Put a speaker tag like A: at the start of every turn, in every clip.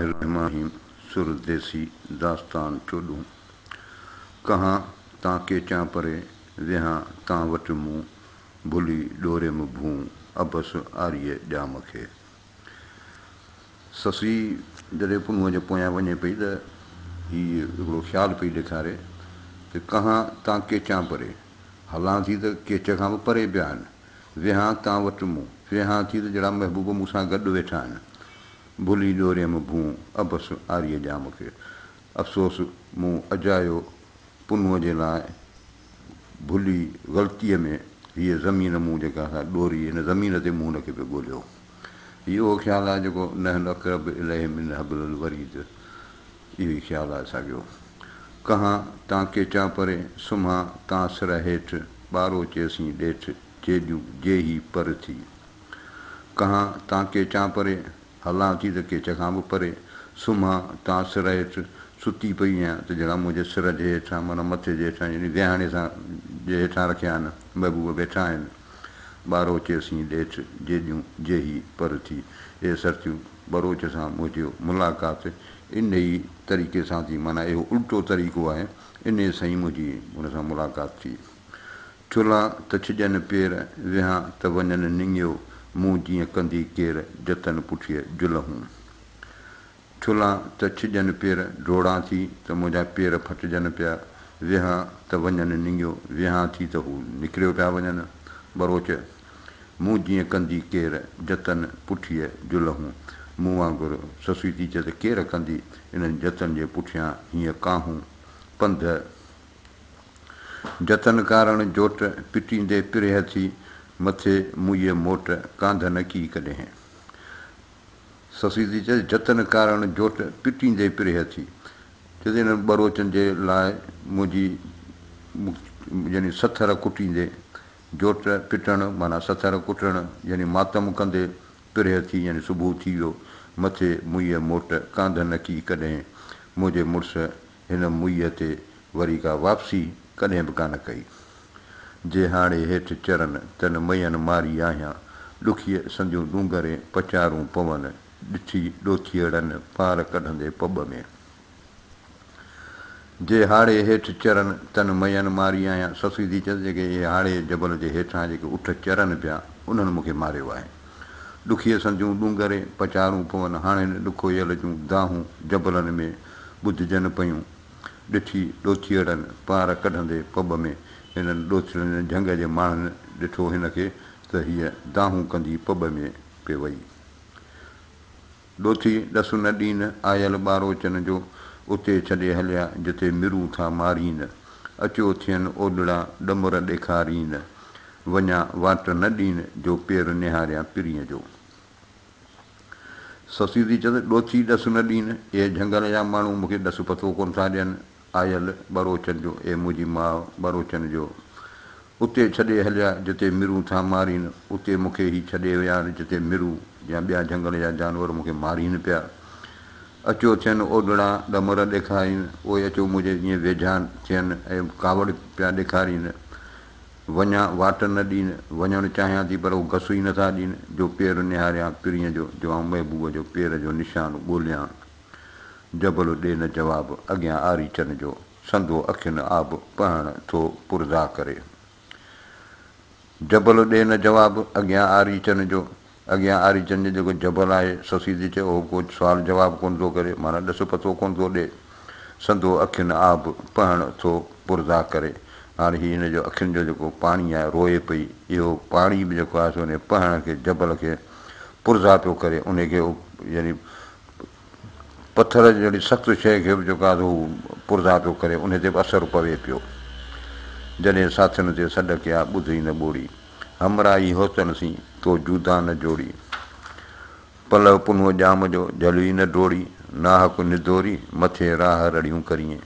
A: رحماهيم سر ديسي داستان چوڏهون ڪهان تان ڪيچان پري ويهان تان وٽ مون ڀلي ڏوريم ڀون عبس آريء ڄام کي سسئي جڏهن پنهونء جي پويان وڃي پئي ته هيء هڪڙو خيال پئي ڏيکاري ته ڪهان تان ڪيچان پري هلان ٿي ته ڪيچ کان به پري پيا آهن ويهان تان وٽ مون ويهان ٿي ته جهڙا محبوب مون سان گڏ ويٺا آهن ڀلي ڏوريم ڀونء عبس عاريء ڄام کي. افسوس مون اجايو پنهونء جي لاء ڀلي غلطيء ۾ هيء زمين مون جيڪا سا ڏوري هن زمين تي مون ان کي پئي ڳوليو. هي اهو خيال آهي جيڪو نحن اقرب اليه من حبل الوريد اهو ئي خيال آهي ساڳيو ڪهان تان ڪيچان پري سمهان تان سر هيٺ ٻارو چيسين ڏيٺ جيڏيون جيهي پر ٿي. ڪهان تان ڪيچان پري، هلان ٿي ته ڪيچ کان به پري، سمهان تان سر هيٺ، ستي پئي هيان ته جهڙا منهنجي سر جي هيٺان معنيٰ مٿي جي هيٺان يعني ويهاڻي سان جي هيٺان رکيا آهن محبوب ويٺا آهن. ٻاروء چيسين ڏيٺ جيڏيون جيهي پر ٿي، اي سرتيون ٻروچ سان منهنجيو ملاقات انهيء طريقي سان ٿي معنيٰ اهو الٽو طريقو آهي انهيء سان ئي منهنجي هن سان ملاقات ٿي. چلان ته ڇڄن پير، ويهان ته وڃن نڱيو، مون جيئن ڪندي ڪير، جتن پٺيء جلهون. چلان ته ڇڄن پير، ڊوڙان ٿي ته منهنجا پير ڦٽجن پيا، ويهان ته وڃن نڱيو، ويهان ٿي ته هو نڪريو پيا وڃن. ٻروچ، مون جيئن ڪندي ڪير، جتن پٺيء جلهون. مون وانگر سسئي ٿي چئي ته ڪير ڪندي انهن جتن جي پٺيان هيئن ڪاهون. پنڌ. جتن ڪارڻ جوٽ، پٽيندي پرهه ٿي، مٿي موئيء موٽ، ڪانڌ نه ڪي ڪڏهين. سسئي ٿي چئس، جتن ڪارڻ جوٽ، پٽيندي پرهه ٿي. چئس ته انهن ٻروچن جي لاء منهنجي يعني سٿر ڪٽيندي، جوٽ پٽڻ معنيٰ سٿر ڪٽڻ يعني ماتم ڪندي، پرهه ٿي يعني صبح ٿي ويو، مٿي موئيء موٽ، ڪانڌ نه ڪي ڪڏهين. منهنجي مڙس هن موئيء تي وري ڪا واپسي ڪڏهن به ڪانه ڪئي. جي هاڙهي هيٺ چرن، تن مئين ماري آهيان، ڏکيء سنديون ڏونگرين پچارون پون، ڏٺي ڏوٿيئڙن پار ڪڍندي پٻ ۾. جي هاڙهي هيٺ چرن، تن مئين ماري آهيان، سسئي ٿي چيس، جيڪي اهي هاڙهي جبل جي هيٺان جيڪي اٺ چرن پيا، انهن مون کي ماريو آهي. ڏکيء سنديون ڏونگرين پچارون پون، هاڻ هن ڏکوئيل جون دانهون جبلن ۾ ٻڌجن پيون. ڏٺي ڏوٿيئڙن پار ڪڍندي پٻ ۾ هنن ڏوٿيئڙن جي جهنگ جي ماڻهن ڏٺو هن کي ته هيء دانهون ڪندي پٻ ۾ پئي وئي. ڏوٿي ڏس نه ڏين، آيل ٻاروچن جو اتي ڇڏي هليا جتي مرون ٿا مارين. اچو ٿين اوڏڙا ڏمر ڏيکارين، وڃان واٽ نه ڏين جو پير نهاريان پرينء جو. سسي ٿي چيس، ڏوٿي ڏس نه ڏين، اهي جهنگل جا ماڻهو مون کي ڏس پتو ڪونه ٿا ڏين. آيل ٻروچن جو، اي منهنجي ماء ٻروچن جو! اتي ڇڏي هليا، جتي مرون ٿا مارين، اتي مون کي هي ڇڏي ويا آهن، جتي مرو يا ٻيا جهنگل جا جانور مون کي مارين پيا. اچو ٿين اوڏڙا ڏمر ڏيکارين، اهي اچو منهنجي ائين ويجها ٿين ۽ ڪاوڙ پيا ڏيکارين. وڃان، واٽ نه ڏين، وڃڻ چاهيان ٿي پر هو گس ئي نٿا ڏين، جو پير نهاريان پرينء جو، جو آئون محبوب جو پير جو نشان ڳوليان. جبل ڏي نه جواب، اڳيان آريچن جو، سندو اکين آب پهڻ ٿو پرزا ڪري. جبل ڏي نه جواب، اڳيان آريچن جو. اڳيان آري چن جو جيڪو جبل آهي، سسيدي چيو، اهو ڪو سوال جواب ڪونه ٿو ڪري، معنيٰ ڏس پتو ڪونه ٿو ڏئي. سندو اکين آب پهڻ ٿو پرزا ڪري. هاڻ هي هن جو اکين جو جيڪو پاڻي آهي، روئي پئي. اهو پاڻي به جيڪو آهي سو ان جي پهڻ کي، جبل کي پرزا پيو ڪري. انهي کي يعني پٿر جهڙي سخت شيء کي به جيڪو آهي سو هو پرزا پيو ڪري. انهي تي به اثر پوي پيو. جڏهن ساٿين تي سڏ ڪيا، ٻڌ ئي نه ٻوڙي. همراهي حسن سين تو جودا نه جوڙي، پلؤ پنهون ڄام جو جهلوي نه ڊوڙي، ناحق نڌوري مٿي راهه رڙيون ڪرين.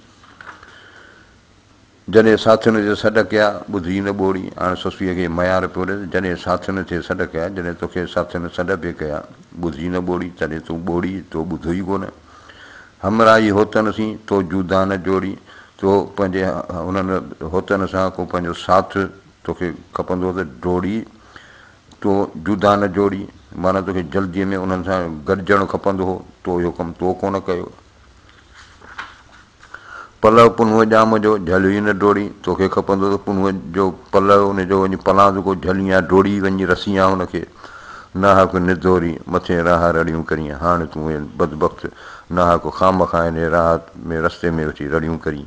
A: جڏهن ساٿين تي سڏ ڪيا، ٻڌي نه ٻوڙي، هاڻ سسئي کي ميار پيو ڏس، جڏهن ساٿين تي سڏ ڪيا، جڏهن توکي ساٿين سڏ به ڪيا، ٻڌي نه ٻوڙي، تڏهن تون ٻوڙي، تو ٻڌو ئي ڪونه. همراهي حسن سين تو جودا نه جوڙي، تو پنهنجي هنن حسن سان ڪو پنهنجو ساٿ توکي کپندو ته ڊوڙي تو جدا نه جوڙي، معنيٰ توکي جلديء ۾ انهن سان گڏجڻ کپندو هو، تو اهو ڪم تو ڪونه ڪيو. پلؤ پنهونء ڄام جو، جهليو ئي نه ڊوڙي، توکي کپندو ته پنهونء جو پلؤ، ان جو وڃي پلاندڪو جهلين يا ڊوڙي وڃي رسين هان هن کي. ناحق نڌوري، مٿين راهه رڙيون ڪرين، هاڻ تون اي بدبخت، ناحق خامخا هن راهه ۾ رستي ۾ ويٺي رڙيون ڪرين.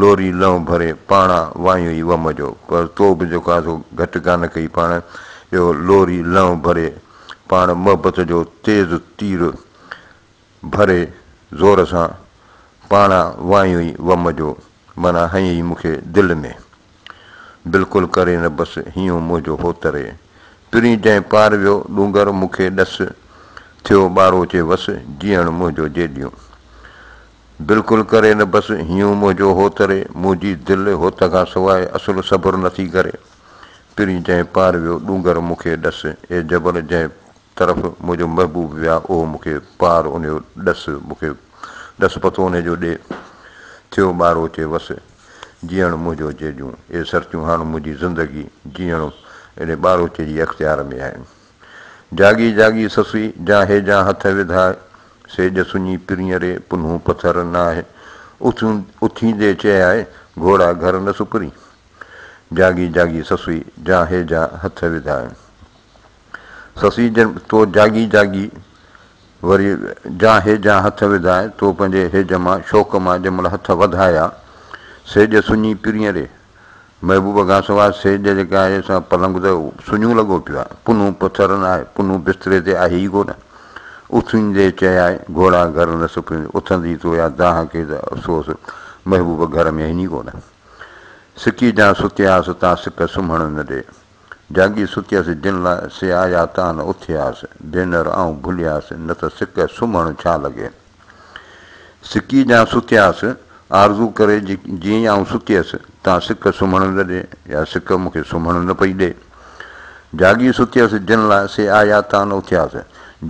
A: لوري لئون ڀري پاڻا وايون ئي وم جو پر تو به جيڪو آهي سو گهٽ ڪانه ڪئي پاڻ اهو لوري لئون ڀري پاڻ محبت جو تيز تير ڀري زور سان پاڻا وايون ئي وم جو معنيٰ هنئين ئي مون کي دل ۾ بلڪل ڪري نه بس هيون منهنجو هو تري پرين جنهن پار ويو ڏونگر مون کي ڏس ٿيو ٻاروچي وس جيئڻ منهنجو جيڏيون بلڪل ڪري نه بس هيون منهنجو هو تري منهنجي دل هوت کان سواء اصل صبر نه ٿي ڪري پرين جنهن پار ويو ڏونگر مون کي ڏس اي جبل جنهن طرف منهنجو محبوب ويا اهو مون کي پار انهيو ڏس مون کي ڏس پتو انهي جو ڏي ٿيو ٻارو چي وس جيئڻ منهنجو جي ڏيون اي سرتيون هاڻ منهنجي زندگي جيئڻ انهي ٻارو چي جي اختيار ۾ آهي. جاڳي جاڳي سسئي، جاهي جا هٿ وڌاء، سيڄ سڃي پرينئري، پنهون پٿر ناهه، اٿيون اٿيندي چيائي، گهوڙا گهر نه سپرين. جاڳي جاڳي سسئي، جاهي جا هٿ وڌاء. سسئي جن تو جاڳي جاڳي وري جاهي جا هٿ وڌاء، تو پنهنجي هيج مان، شوق مان، جنهن مهل هٿ وڌايا، سيڄ سڃي پرينئري، محبوبه کانسواء سيج جيڪي آهي سا پلنگ ته سڃو لڳو پيو آهي، پنهون پٿر نه آهي، پنهون بستري تي آهي ئي ڪونه. اٿيندي چيائين، گهوڙا گهر نه سپرين، اٿندي تو يا دانهن کي ته افسوس، محبوبه گهر ۾ هين ئي ڪونه. سڪي جان ستياس تان سڪ سمهڻ نه ڏي. جاڳي ستيس جن لاء سي آيا تان اٿياس ڀينر آئون ڀلياس نه ته سڪ سمهڻ ڇا لڳي سڪي جان ستياس آرزو ڪري جي جي آئون ستيس تان سڪ سمهڻ نه ڏي يا سڪ مون کي سمهڻ نه پئي ڏي جاڳي ستيس جن لاء سي آيا تان اٿياس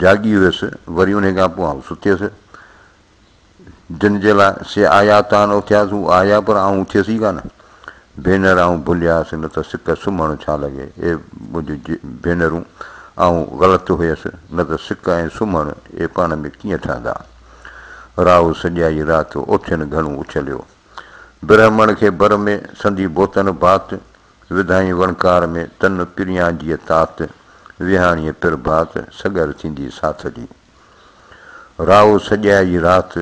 A: جاڳي هيس وري انهي کان پوء آئون ستيس جن جي لاء سي آيا تان اٿياس هو آيا پر آئون اٿيس ئي ڪانه ڀينر آئون ڀلياس نه ته سڪ سمهڻ ڇا لڳي اي منهنجو ڀينرون آئون غلط هيس نه ته سڪ ۽ سمهڻ اي پاڻ ۾ ڪيئن ٺهندا راهو سڄائي رات اوٺين گهڻو اڇليو برهمڻ کي بر ۾ سندي بوتن بات وڌائين وڻڪار ۾ تن پريان جيء تات ويهاڻيء پرڀات سڳر ٿيندي ساٿ جي راهو سڄيء جي رات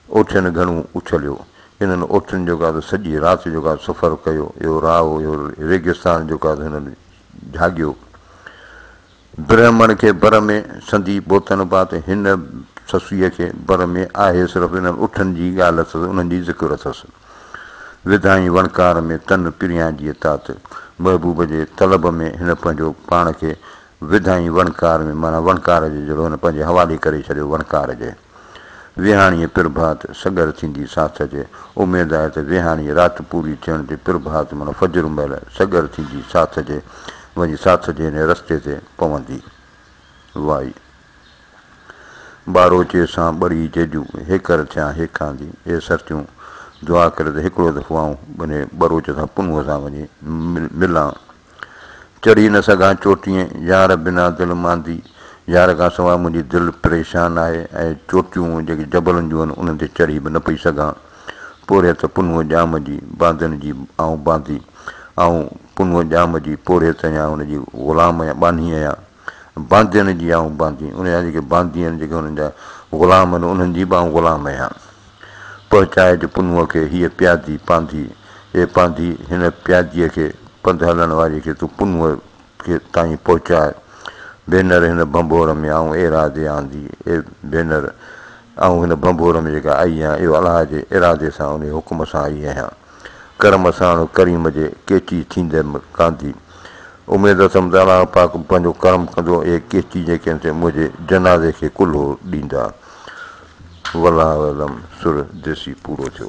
A: اوٺين گهڻو اڇليو. انهن اوٺين جو ڪا ته سڄيء رات جو ڪا سفر ڪيو. اهو راهو، اهو ريگستان جو ڪا ته هنن جهاڳيو. برهمڻ کي بر ۾ سندي بوتن پات، هن سسئيء کي بر ۾ آهي صرف انهن اوٺين جي ڳالهه اٿس، انهن جي ذڪر اٿس. وڌائين وڻڪار ۾ تن پريان جيء تات. محبوب جي طلب ۾ هن پنهنجو پاڻ کي وڌائين وڻڪار ۾ معنيٰ وڻڪار جي جهڙو هن پنهنجي حوالي ڪري ڇڏيو وڻڪار جي ويهاڻيء پرڀات سڳر ٿيندي ساٿ جي اميد آهي ته ويهاڻيء رات پوري ٿيڻ تي پرڀات معنيٰ فجر مهل سڳر ٿيندي ساٿ جي وڃي ساٿ جي انهيء رستي تي پوندي وائي ٻاروچي سان ٻڙي جيجون هيڪر ٿيان هيڪاندي اي سرتيون دعا ڪري ته هڪڙو دفعو آئون انهيء ٻروچ سان پنهونء سان وڃي ملان. چڙهي نه سگهان چوٽيء يار بنا دل ماندي يار کان سواء منهنجي دل پريشان آهي ۽ چوٽيون جيڪي جبلن جون آهن انهن تي چڙهي به نه پئي سگهان پورهيت پنهونء ڄام جي باندين جي آئون باندي آئون پنهونء ڄام جي پورهيت آهيان ان جي غلام آهيان ٻانهي آهيان. باندين جي آئون باندين ان جا جيڪي باندي آهن جيڪي انهن جا غلام آهن انهن جي به آئون غلام اهيان پهچائي جو پنهونء کي هيء پيادي پانڌي اي پانڌي هن پياديء کي پنڌ هلڻ واريء کي تون پنهونء کي تائين پهچاء ڀينر هن ڀنڀور ۾ آئون ارادي آندي اي ڀينر آئون هن ڀنڀور ۾ جيڪا آئي آهيان اهو الله جي ارادي سان انهي حڪم سان آئي اهيان. ڪرم ساڻ ڪريم جي ڪيچي ٿينديم ڪانڌي. اميد اٿم ته الله پاڪ پنهنجو ڪرم ڪندو اهي ڪيچي جيڪي سي منهنجي جنازي کي ڪلهو ڏيندا. والله اعلم سر ديسي پورو ٿيو.